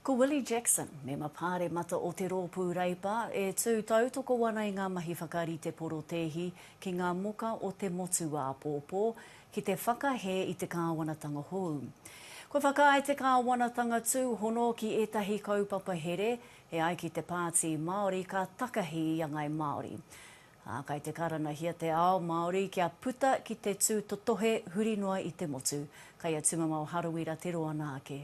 Ko Willie Jackson, mema Pāremata o te Rōpū Reipa, e tū tautoko ana i ngā mahi whakarite porotēhi ki ngā moka o te motu āpōpō ki te whakahē i te kāwanatanga hou. Kua whakaae te kāwanatanga tūhono ki ētahi kaupapa here e ai ki te Pāti Māori ka takahi i a Ngāi Māori, ā, kai te karanahia te ao Māori kia puta ki te tūtotohe huri noa i te motu, kai a Tumamao Harawira te roa nā ake.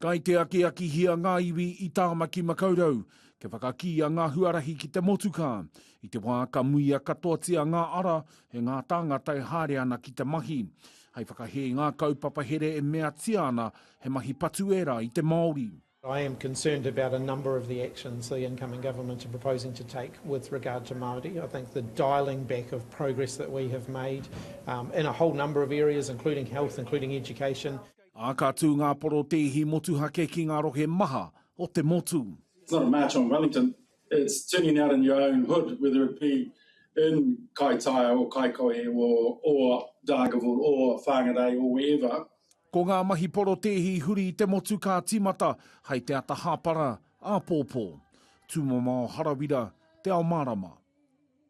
Kai te akiakihia ngā iwi i Tāmaki Makaurau kia whakakīia ngā huarahi ki te motukā. I te wā ka muia katoatia ngā ara, he ngā tāngata e haere ana ki te mahi. Hei whakahē ngā kaupapa here e meatia ana he mahi patu ērā i te Māori. I am concerned about a number of the actions the incoming government are proposing to take with regard to Māori. I think the dialling back of progress that we have made in a whole number of areas, including health, including education, Ā, ka tū ngā porotēhi motuhake ki ngā rohe maha o te motu. It's not a march on Wellington, it's turning out in your own hood, whether it be in Kaitaia or Kaikohe or Dargaville or Whangarei or wherever. Ko ngā mahi porotēhi huri i te motu ka tīmata hai te ata hāpara, āpōpō. Tūmamao Harawira, Te Ao Mārama.